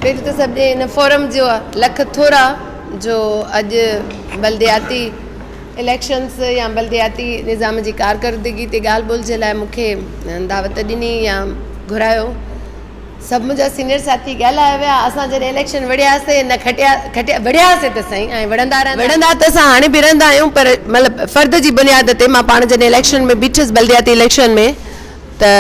پهريون ته سڀني هن فورم جا لک ٿورا جو اڄ بلدياتي اليڪشنز يا بلدياتي نظام جي ڪارڪردگي تي ڳالهه ٻولهه جي لاء مون کي دعوت ڏني يا گهرايو. سڀ منهنجا سينيئر ساٿي ڳالهايا ويا. اسان جڏهن اليڪشن وڙهياسين نه کٽيا کٽيا وڙهياسين ته سهي ۽ وڙهندا رهندا. وڙهندا ته اسان هاڻي به رهندا آهيون پر مطلب فرد جي بنياد تي مان پاڻ جڏهن اليڪشن ۾ بيٺس بلدياتي اليڪشن ۾. ته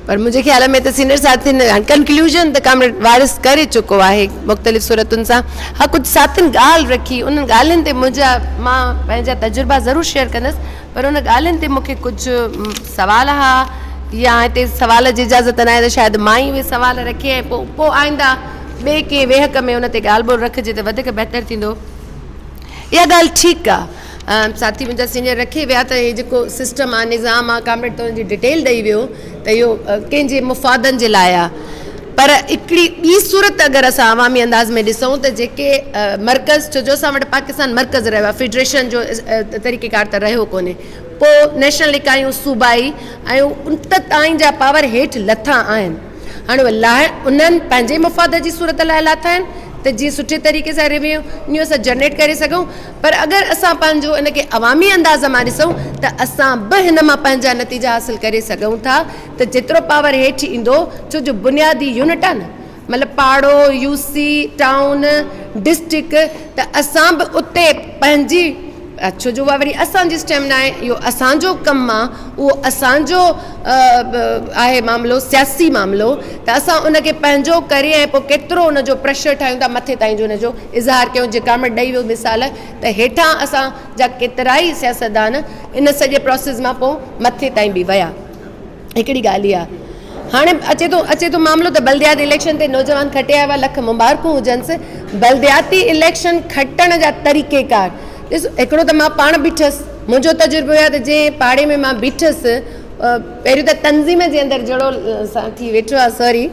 پر منهنجي خيال ۾ ته سينئر ساٿين هاڻي ڪنڪلوزن ته ڪامريڊ وارث ڪري چڪو آهي مختلف صورتن سان ها ڪجهه ساٿين ڳالهه رکي انهن ڳالهين تي منهنجا مان پنهنجا تجربا ضرور شيئر ڪندس پر ان ڳالهين تي مونکي ڪجهه سوال ها يا هتي سوال جي اجازت ناهي ته شايد مان ئي اهي سوال رکي ۽ پوء پوء آئنده ٻئي ڪنهن ويهڪ ۾ ان تي ڳالهه ٻولهه رکجي ته وڌيڪ بهتر ٿيندو اها ڳالهه ٺيڪ آهي ساٿي منهنجا سينئر رکي ويا ته هي جيڪو سسٽم آ نظام آ ڪامريڊ تون جي ڊيٽيل ڏئي ويو ته اهو ڪنهن جي مفادن جي لاء آ پر هڪڙي ٻي صورت اگر اسان عوامي انداز ۾ ڏسون ته جيڪي مرڪز ڇو جو اسان وٽ پاڪستان مرڪز رهيو آ فيڊريشن جو طريقي ڪار ته رهيو ڪونهي پو نيشنل اڪايون صوبائي ۽ ان ته تائين جا پاور هيٺ لٿا آهن هاڻي لاء انهن پنهنجي مفاد جي صورت لاء لاٿا آهن ته جي سٺي طريقي سان ريوينيو اسان جنريٽ ڪري سگهون پر اگر اسان پنهنجو ان کي عوامي انداز مان ڏسون ته اسان به هن مان پنهنجا نتيجا حاصل ڪري سگهون ٿا ته جيترو پاور هيٺ ايندو ڇو جو بنيادي يونٽ آهي نه مطلب پاڙو، يو سي، ٽائون، ڊسٽرڪٽ ته اسان به اتي پنهنجي ڇو جو اها وري اسان جي اسٽيم نه آهي اهو اسان جو ڪم آهي اهو اسان جو آهي معاملو سياسي معاملو ته اسان ان کي پنهنجو ڪري ۽ پوء ڪيترو ان جو پريشر ٺاهيون ٿا مٿي تائين جو ان جو اظهار ڪيو جيڪا ۾ ڏئي ويو مثال ته هيٺان اسان جا ڪيترائي سياستدان ان سڄي پراسيس مان پوء مٿي تائين به ويا هڪڙي ڳالهه اها هاڻي اچي ٿو اچي ٿو معاملو ته بلدياتي اليڪشن تي نوجوان کٽي آيا هئا لک مبارڪون هجنس بلدياتي اليڪشن کٽڻ جا طريقي ڪار ڏس هڪڙو ته مان پاڻ بيٺس منهنجو تجربو اهو ته جنهن پاڙي ۾ مان بيٺس پهريون ته تنظيم جي اندر جهڙو سان ٿي ويٺو آ سوري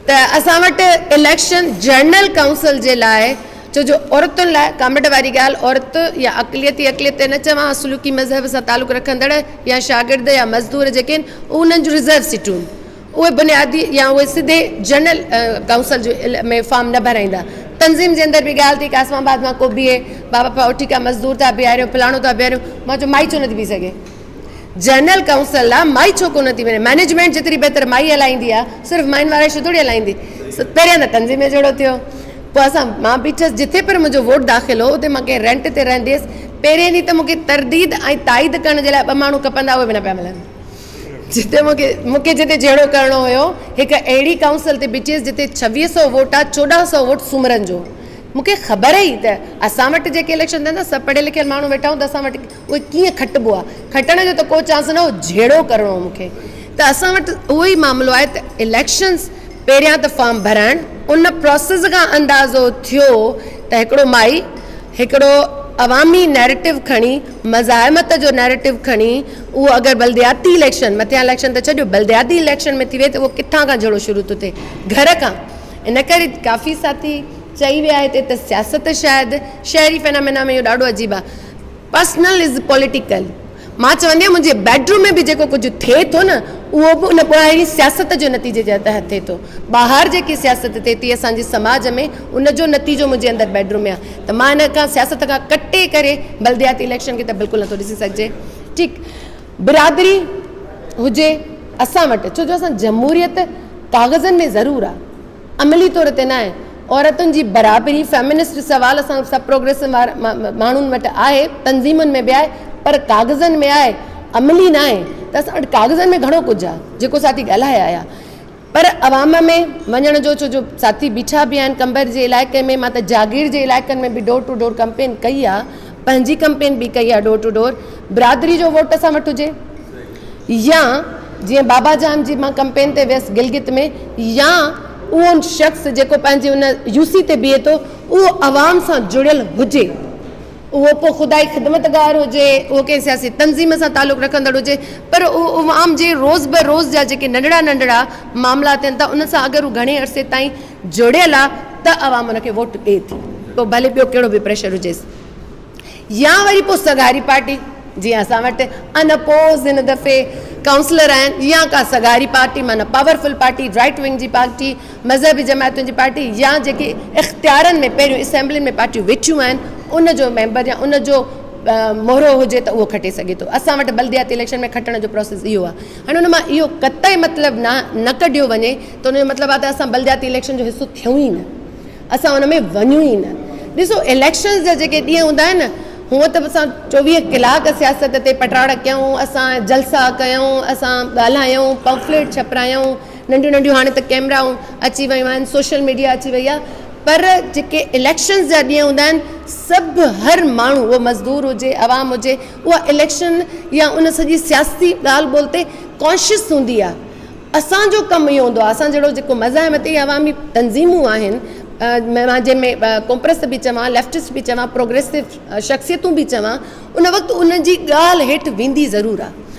ته اسان وٽ اليڪشن جنرل ڪائونسل جي لاء ڇو جو عورتن لاء ڪاميٽ واري ڳالهه عورت يا اقليتي اقليت تي نه چوان سلوڪي مذهب سان تعلق رکندڙ يا شاگرد يا مزدور جيڪي آهن انهن جون رزرو سيٽون اهي بنيادي يا اهي سڌي جنرل ڪائونسل جو ۾ فارم نه ڀرائيندا تنظيم جي اندر به ڳالهه ٿي ڪاسم آباد مان ڪو بيهي بابا اٺي ڪا مزدور ٿا بيهاريون فلاڻو ٿا بيهاريون مان چيو مائي ڇو نٿي بيهي سگهي. جنرل ڪائونسل لا مائي ڇو ڪونه ٿي وڃي مئنيجمينٽ جيتري بهتر مائي هلائيندي آ صرف مائين وارا شو ٿوري هلائيندي پهريان ته تنظيم جو جهيڙو ٿيو پوء اسان مان بيٺس جتي پر منهنجو ووٽ داخل هو اتي مان ڪنهن رينٽ تي رهندي هيس پهرين ڏينهن ته مونکي ترديد ۽ تائيد ڪرڻ جي لاء ٻه ماڻهو کپندا اهي به نه پيا ملن جتي مونکي مونکي جتي جهيڙو ڪرڻو هيو هڪ اهڙي ڪائونسل تي بيٺيس جتي ڇويهه سو ووٽ آ چوڏهن سو ووٽ سومرن جو مونکي خبر هئي ته اسان وٽ جيڪي اليڪشن ٿين ٿا سڀ پڙهيل لکيل ماڻهو ويٺا هوندا اسان وٽ اهي ڪيئن کٽبو آ کٽڻ جو ته ڪو چانس نه هو جهيڙو ڪرڻو هو مون کي ته اسان وٽ اهو ئي معاملو آهي ته اليڪشنز پهريان ته فارم ڀرائڻ ان پروسيس کان اندازو ٿيو ته هڪڙو مائي هڪڙو عوامي نيريٽو کڻي مزاحمت جو نيريٽو کڻي اهو اگر بلدياتي اليڪشن مٿيان اليڪشن ته ڇڏيو بلدياتي اليڪشن ۾ ٿي وئي ته اهو ڪٿان کان جهيڙو شروع ٿو ٿئي گهر کان ان ڪري ڪافي ساٿي چئي ويا هتي ته سياست شايد شهري فينامينا ۾ اهو ڏاڍو عجيب آ پرسنل از پوليٽيڪل. مان چوندي آهيان منهنجي بيڊ روم ۾ به جيڪو ڪجهه ٿئي ٿو نه اهو به ان ٻاهرين سياست جو نتيجي جي تحت ٿئي ٿو. ٻاهر جيڪي سياست ٿئي ٿي اسان جي سماج ۾ ان جو نتيجو منهنجي اندر بيڊ روم ۾ آهي ته مان ان کان سياست کان ڪٽي ڪري بلدياتي اليڪشن کي ته بلڪل نٿو ڏسي سگهجي ٺيڪ برادري هجي اسان وٽ ڇو جو اسان جمهوريت ڪاغذن ۾ ضرور آهي عملي طور تي ناهي. عورتن جي برابري، فيمنسٽ سوال اسان سڀ پروگريسو ماڻهن وٽ آهي، تنظيمن ۾ به آهي پر ڪاغذن ۾ آهي، عملي ناهي ته اسان وٽ ڪاغذن ۾ گهڻو ڪجهه آهي جيڪو ساٿي ڳالهائي آيا پر عوام ۾ وڃڻ جو ڇو جو ساٿي بيٺا به آهن قمبر جي علائقي ۾ مان ته جاگير جي علائقن ۾ به ڊور ٽو ڊور ڪمپين ڪئي آهي پنهنجي ڪمپين به ڪئي آهي ڊور ٽو ڊور برادري جو ووٽ سان وٺ هجي يا جيئن بابا جان جي مان ڪمپين تي ويس گلگت ۾ يا اهو شخص جيڪو پنهنجي ان يو سي تي بيهي ٿو اهو عوام سان جڙيل هجي اهو پوء خدائي خدمتگار هجي اهو ڪنهن سياسي تنظيم سان تعلق رکندڙ هجي پر اهو عوام جي روز به روز جا جيڪي ننڍڙا ننڍڙا معاملا ٿين ٿا ان سان اگر هو گهڻي عرصي تائين جڙيل آ ته عوام ان کي ووٽ ڏئي ٿي پوء ڀلي ٻيو ڪهڙو به پريشر هجيس يا وري پوء سگهاري پارٽي جيئن اسان وٽ ان اپوز هن دفعي ڪائونسلر آهن يا ڪا سگهاري پارٽي معنيٰ پاورفل پارٽي رائيٽ ونگ جي پارٽي مذهبي جماعتن جي پارٽي يا جيڪي اختيارن ۾ پهريون اسيمبلين ۾ پارٽيون ويٺيون آهن ان جو ميمبر يا ان جو مهرو هجي ته اهو کٽي سگهي ٿو اسان وٽ بلدياتي اليڪشن ۾ کٽڻ جو پروسيس اهو آ هاڻي ان مان اهو قطعي مطلب نه ڪڍيو وڃي ته ان جو مطلب آهي ته اسان بلدياتي اليڪشن جو حصو ٿيون ئي نه، اسان ان ۾ وڃون ئي نه. ڏسو اليڪشنز جا جيڪي ڏينهن هوندا آهن نه هونء ته اسان چوويهه ڪلاڪ سياست تي پٽاڙ ڪيائون، اسان جلسا ڪيائون، اسان ڳالهايائون، پمفليٽ ڇپرايائون، ننڍيون ننڍيون هاڻي ته ڪئميرائون اچي ويون آهن، سوشل ميڊيا اچي وئي آهي پر جيڪي اليڪشنز جا ڏينهن هوندا آهن سڀ هر ماڻهو اهو مزدور هجي عوام هجي، اها اليڪشن يا ان سڄي سياسي ڳالهه ٻولهه تي ڪانشيس هوندي آهي اسان جو ڪم اهو هوندو آهي اسان جهڙو جيڪو مزاحم تي عوامي تنظيمون آهن مان جنهن ۾ ڪومپرست به چوان ليفٽس به چوان پروگريسو شخصيتون به چوان ان وقت ان جي ڳالهه هيٺ ويندي ضرور آهي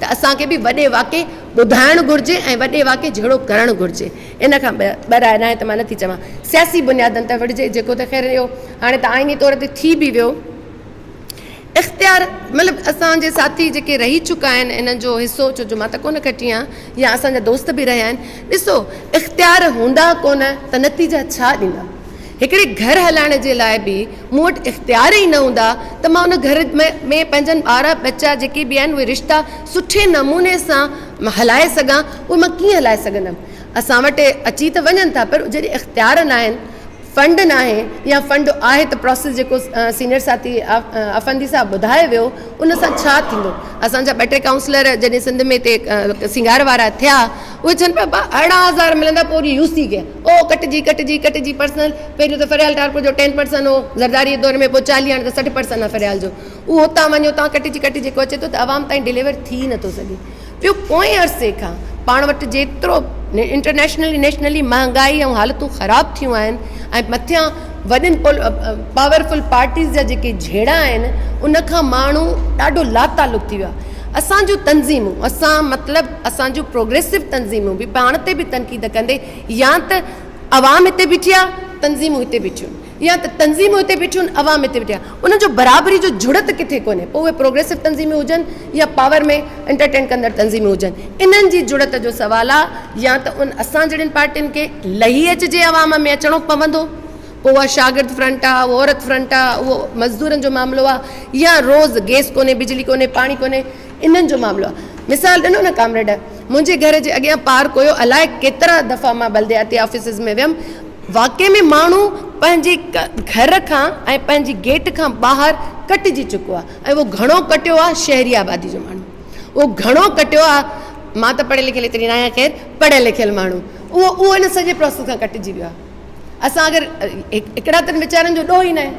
ته اسان کي به وڏي واقعي ٻڌائڻ گهرجي ۽ وڏي واقعي جهڙو ڪرڻ گهرجي. ان کان ٻه راء ناهي ته مان نٿي چوان سياسي بنيادن تي وڙهجي جيڪو ته خير اهو هاڻي ته آئيني طور تي ٿي به ويو اختيار مطلب اسان جي ساٿي جيڪي رهي چڪا آهن انهن جو حصو ڇو جو مان ته ڪونه ڪٽي آهيان يا اسان جا دوست به رهيا آهن ڏسو اختيار هوندا ڪونه ته نتيجا ڇا ڏيندا. هڪڙي گهر هلائڻ جي لاء به مون وٽ اختيار ئي نه هوندا ته مان ان گهر ۾ پنهنجن ٻار ٻچا جيڪي به آهن اهي رشتا سٺي نموني سان هلائي سگهان اهي مان ڪيئن هلائي سگهندم اسان وٽ اچي ته وڃن ٿا پر جڏهن اختيار ناهن فنڊ ناهي يا فنڊ آهي ته پراسيس جيڪو سينيئر ساٿي افندي صاحب ٻڌائي ويو ان سان ڇا ٿيندو اسان جا ٻه ٽي ڪائونسلر جڏهن سنڌ ۾ هتي سينگار وارا ٿيا اهي چون پيا اهڙا هزار ملندا پوري يوسي کي او ڪٽجي ڪٽجي ڪٽجي پرسن پهريون ته فريال ٽارپر جو ٽين پرسن هو زرداري دور ۾ پوء چاليهه هاڻي ته سٺ پرسن آهي فريال جو اهو هتان وڃي هتان ڪٽجي ڪٽجي جيڪو اچي ٿو ته عوام تائين ڊليور ٿي نه ٿو سگهي پيو پوئين عرصي کان پاڻ وٽ جيترو انٽرنيشنلي نيشنلي مهانگائي ۽ حالتون خراب ٿيون آهن ۽ مٿيان وڏين پاورفل پارٽيز جا جيڪي جهيڙا آهن ان کان ماڻهو ڏاڍو لاتعلق ٿي ويو آهي اسان جون تنظيمون اسان مطلب اسان جون پروگريسو تنظيمون به پاڻ تي به تنقيد ڪندي يا ته عوام هتي بيٺي آهي تنظيمون هتي بيٺيون يا ته تنظيمون هتي بيٺيون عوام هتي بيٺي آهي انهن جو برابري جو جڙت ڪٿي ڪونهي پوء اهي پروگريسو تنظيمون هجن يا پاور ۾ انٽرٽين ڪندڙ تنظيمون هجن انهن جي جڙت جو سوال آهي يا ته ان اسان جهڙين پارٽين کي لهي اچجي عوام ۾ اچڻو پوندو پوء اها شاگرد فرنٽ آهي اهو عورت فرنٽ آهي اهو مزدورن جو معاملو آهي يا روز گيس ڪونهي بجلي ڪونهي پاڻي ڪونهي انهن جو معاملو آهي. مثال ڏنو نه ڪامريڊ! منهنجي گهر جي اڳيان پارڪ هيو، الاء ڪيترا دفعا مان بلدياتي آفيسز ۾ ويم، واقعي ۾ ماڻهو پنهنجي گهر کان ۽ پنهنجي گيٽ کان ٻاهر ڪٽجي چڪو آهي ۽ اهو گهڻو ڪٽيو آهي شهري آبادي جو ماڻهو اهو گهڻو ڪٽيو آهي، مان ته پڙهيل لکيل ايتري ناهيان خير پڙهيل لکيل ماڻهو اهو اهو ان سڄي پراسيس کان ڪٽجي ويو آهي. اسان اگر هڪڙا تن ويچارن جو ڏوهه ئي ناهي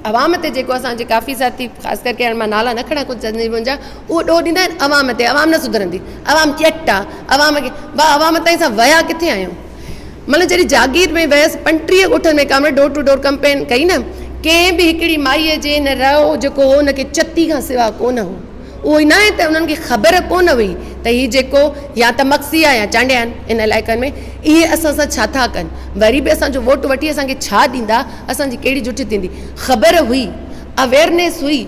عوام تي جيڪو اسانجي ڪافي ساٿي خاص ڪرڪي هاڻي مان نالا نه کڻان ڪجهه چوندن جي منهنجا اهو ڏوهه ڏيندا آهن عوام تي عوام نه سڌرندي عوام ڄٽ آهي عوام کي واهه عوام تائين اسان ويا ڪٿي آهيون مطلب جڏهن جاگير ۾ ويس پنٽيهه ڳوٺن ۾ comrade door to door campaign ڪئي نه ڪنهن به هڪڙي مائي جي نه رئو جيڪو هو ان کي چتي کان سوا ڪونه هو اهو ئي ناهي ته انهن کي خبر ڪو نه هئي ته هي جيڪو يا ته مگسي آهي يا چانڊيا آهن ان علائقن ۾ اهي اسان سان ڇا ٿا ڪن وري به اسان جو ووٽ وٺي اسان کي ڇا ڏيندا اسان جي ڪهڙي جٺ ٿيندي خبر هئي اويرنيس هئي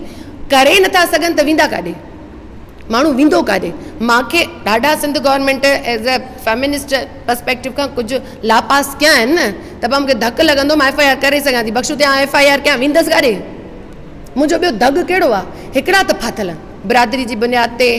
ڪري نٿا سگهن ته ويندا ڪاڏي ماڻهو ويندو ڪاڏي مان کي ڏاڍا Sindh government as a feminist perspective کان ڪجهه لاپاس ڪيا آهن نه ته پوء مونکي ڌڪ لڳندو مان ايف آء آر ڪري سگهان ٿي بخشو تي آن ايف آء آر ڪيان ويندس ڪاڏي منهنجو ٻيو دڳ ڪهڙو آ؟ هڪڙا ته ڦاٿل آهن. برادري جي بنياد تي،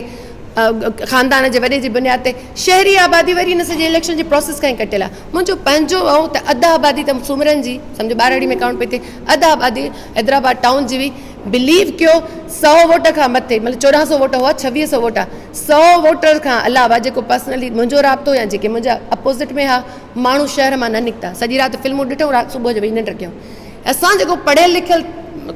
خاندان جي وڏي جي بنياد تي، شهري آبادي وري ان سڄي اليڪشن جي پراسيس کان ئي ڪٽيل آ. منهنجو پنهنجو ائون ته اڌ آبادي ته سومرن جي، سمجهو ٻارڙي ۾ ڪائونٽ پئي ٿئي، اڌ آبادي حيدرآباد ٽائون جي هئي. بليو ڪيو سؤ ووٽ کان مٿي، مطلب چوڏهن سؤ ووٽ هئا، ڇويهه سؤ ووٽ آ، سؤ ووٽر کان علاوه جيڪو پرسنلي منهنجو رابطو يا جيڪي منهنجا اپوزٽ ۾ ها، ماڻهو شهر مان نه نڪتا. سڄي رات فلمون ڏٺئون، رات صبح جو ويهي ننڊ ڪيائون. اسان جيڪو پڙهيل لکيل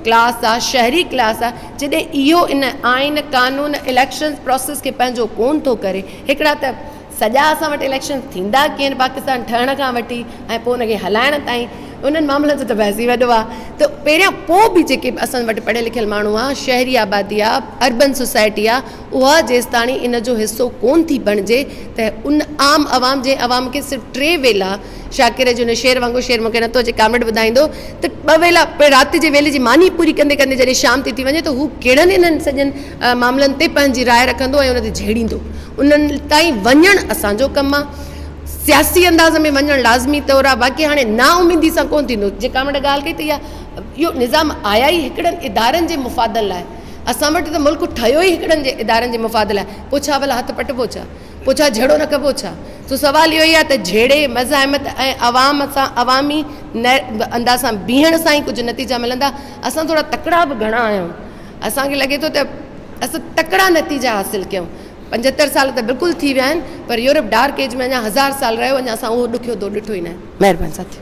ڪلاس آ شهري ڪلاس آ جڏهن اهو ان آئين قانون اليڪشنز پروسيس کي پنهنجو ڪون ٿو ڪري هڪڙا ته سڄا اسان وٽ اليڪشنز ٿيندا ڪيئن آهن پاڪستان ٺهڻ کان وٺي ۽ پوء ان کي هلائڻ تائين انهن معاملن جو ته بحث ئي وڏو آ ته پهريان پوء به جيڪي اسان وٽ پڙهيل لکيل ماڻهو آ شهري آبادي آ اربن سوسائٽي آ اها جيستاڻي ان جو حصو ڪون ٿي بڻجي ته ان عام عوام جنهن عوام کي صرف ٽي ويلا شاڪر جو هن شعر وانگو شعر مون کي نه ٿو اچي ڪامريڊ ٻڌائيندو ته ٻه ويلا پڻ رات جي ويلي جي ماني پوري ڪندي ڪندي جڏهن شام ٿي ٿي وڃي ته هو ڪهڙن انهن سڄن معاملن تي پنهنجي راء رکندو ۽ ان تي جهيڙيندو انهن تائين وڃڻ اسان جو ڪم آهي سياسي انداز ۾ وڃڻ لازمي طور آهي باقي هاڻي نااميدي سان ڪونه ٿيندو جي ڪامريڊ ڳالهه ڪئي ته اها اهو نظام آيا ئي هڪڙن ادارن جي مفادن لاء اسان وٽ ته ملڪ ٺهيو ئي هڪڙن جي ادارن جي مفاد لاء پوء ڇا ڀلا هٿ پٽبو ڇا پوء ڇا جھيڙو نه ڪبو ڇا؟ سو سوال اهو ئي آهي ته جھيڙي، مزاحمت ۽ عوام سان عوامي انداز سان بيهڻ سان ئي ڪجهه نتيجا ملندا. اسان ٿورا تڪڙا به گھڻا آهيون. اسان کي لڳي ٿو ته اسان تڪڙا نتيجا حاصل ڪيون. پنجهتر سال ته بلڪل ٿي ويا آهن پر يورپ ڊارڪ ايج ۾ اڃا هزار سال رهيو اڃا اسان اهو ڏکيو دور ڏٺو ئي ناهي. مهرباني ساٿيو.